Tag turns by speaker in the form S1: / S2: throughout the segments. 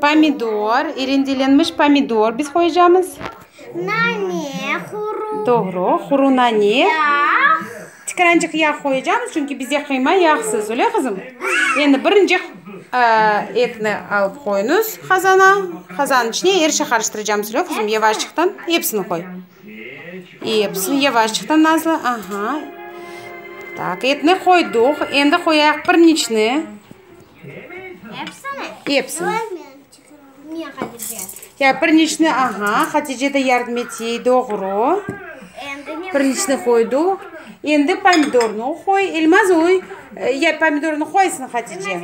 S1: Pomidor, rendelenmiş pomidor biz qoyacamız. Nane,
S2: quru. Doğru, quru
S1: nane. Yağ. Tikirancıq yağ qoyacamız, çünki bizde qıyma yağsız, öyle qızım? Endi birinci etni alıp qoyunız qazana, qazanın içine er şey qarıştıracamız, öyle qızım? Yavaşçıqtan episini qoy. Episini yavaşçıqtan nazlı, aha. Tak, etni qoydıq, endi qoyaq pirincni. Epsini.
S2: Ya, bir neçni,
S1: aha, Hatice de yardım ete, doğru. Bir neçni qoyduv. Endi pomidornı qoy, Elmaz oy. Ya, pomidornı qoysın, Hatice.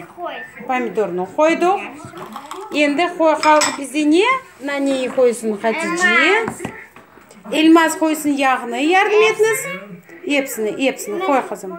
S1: Pomidornı qoyduv. Endi qoy, qaldı bizde ne? Naneyi qoysın, Hatice. Elmaz qoysın yağnı, yardım etiniz. Epsini, epsini qoy, qızım.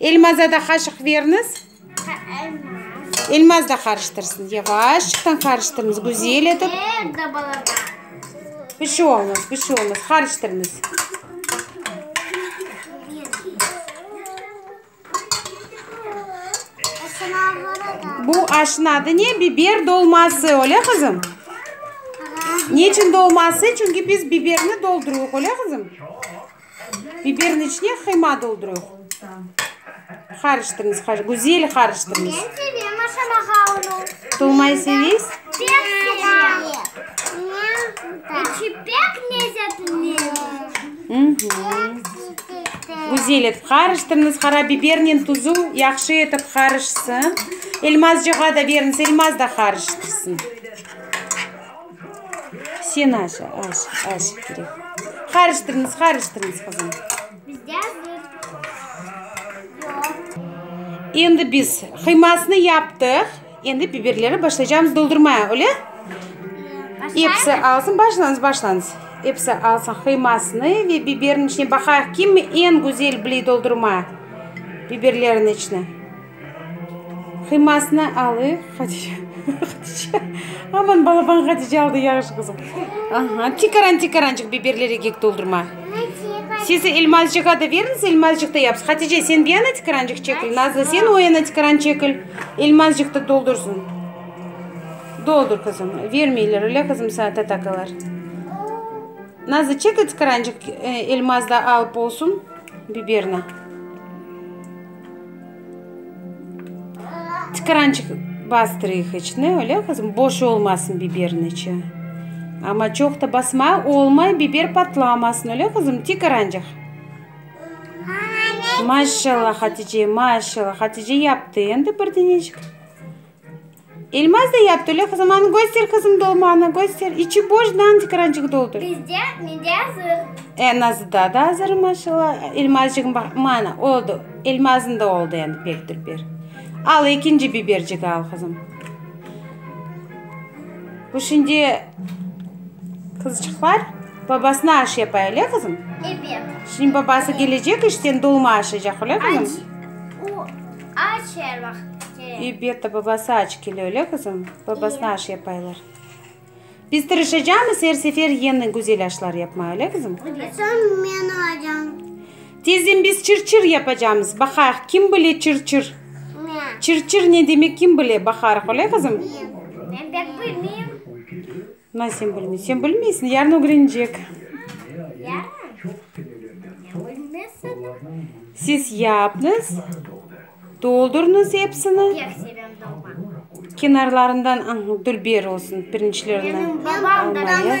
S1: Elmazda da qaşıq beriniz. Elmaz da qarıştırsın. Yavaşçıqtan qarıştırınız. Güzel etip. Bir şey olmaz, bir şey olmaz. Qarıştırınız. Bu aşın adı ne? Biber dolması, öyle kızım? Ne için dolması? Çünkü biz biberini dolduruyıq, öyle kızım? Biberin içine qıyma doldurıñ. Qarıştırıñız, qarış, güzel qarıştırıñız. Ben sevem aşamağa
S2: onu. Tolmayı
S1: seviyiz? Pek sevem.
S2: İçi pek lezzetli.
S1: Güzel etip qarıştırıñız. Qarabibernen tuzu yahşı etip qarışsın. Elmazcığa da beriñiz, Elmaz da qarıştırsın. Sen aç, aç, aç kerek. Qarıştırıñız, qarıştırıñız, qızım. Bizde bir yoq. Endi biz qıymasını yaptıq. Endi biberleri başlaycağımız doldurmaya, öyle? Episi alsın, başlañız, başlañız. Episi alsın qıymasını ve biberin içine baqayıq, kim en güzel biley doldurmaya biberlerin içine. Qıymasını alıy, Hatice. Hatice. Aman balaban Hatice aldı, yahşı qızım. Aha, tikaran tikarançıq biberleri kek doldurma. Siz Elmazcığa da beriñiz, Elmazcıq da yapsın. Hatice, sen bir yana tikarançıq çekil, Nazlı, sen o yana tikaran çekil. Elmazcıq da doldursın. Doldur, qızım. Vermeyler öyle, qızım, sana tatakalar. Nazlı, çekil tikarançıq, Elmaz da alıp olsun biberni. Tıkırançıq bastırıyıq içine, öyle qızım, boş olmasın biberin içi. Amma çoq da basma, olmay biber patlamasın, öyle qızım, tıkırançıq. Maşallah, Hatice, maşallah, Hatice yaptı endi bir deñecik. Elmaz da yaptı öyle hızımanı göster hızım dolmanı göster içi boş dandik qırancık doldur. Bizde
S2: mende azır. E nazıda da
S1: azır maşalla elmazcığım bak mana oldu elmazın da oldu endi pek dur bir al ekinci bibercigi al hızım. Bu şimdi kızcıqlar babasına aş yapay öyle hızım. Evet. Şimdi
S2: babası
S1: gelecek işten dolma aşacak öyle hızım. Acı.
S2: Aç her vaqıt kele. İ, Betta
S1: babası aç kele, öyle qızım? Babasına aş yapaylar. Biz tırışacamız her sefer yeni güzel aşlar yapmağa, öyle qızım? Ve soñ men
S2: olacam. Tezden biz
S1: çır-çır yapacamız. Baqayıq, kim bile çır-çır? Men. Çır-çır ne demek, kim bile? Baqarıq, öyle qızım? Men. Men
S2: pek bilmeyim. Na,
S1: sen bilmeysiñ. Sen bilmeysiñ, yarın ögrenecek.
S2: Siz
S1: yapnıız, doldurnıız epsini.
S2: Kenarlarından, aa,
S1: dülber olsun, pirinçlerni
S2: almayı.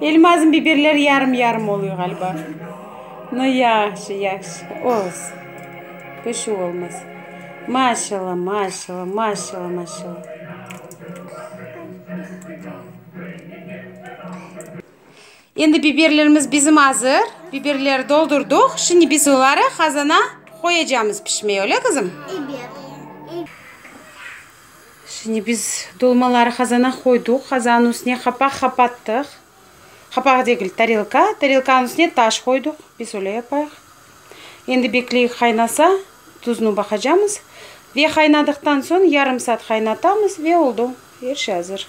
S1: Elmazım biberler yarım yarım oluy ğaliba no yahşı yahşı olsun pişüv olmasa maşalla maşalla maşalla maşalla. Endi biberlerimiz bizim azır biberler doldurdıq şimdi biz oları qazana qoyacamız pişmeye öyle qızım? Şimdi biz dolmaları qazana qoyduq, qazanıñ üstüne qapaq qapattıq. Qapaq degil, tarelka, tarelkanıñ üstüne taş qoyduq, biz öyle yapayıq. Endi bekleyik qaynasa, tuznı baqacamız ve qaynadıqtan soñ yarım saat qaynatamız ve oldu, er şey azır.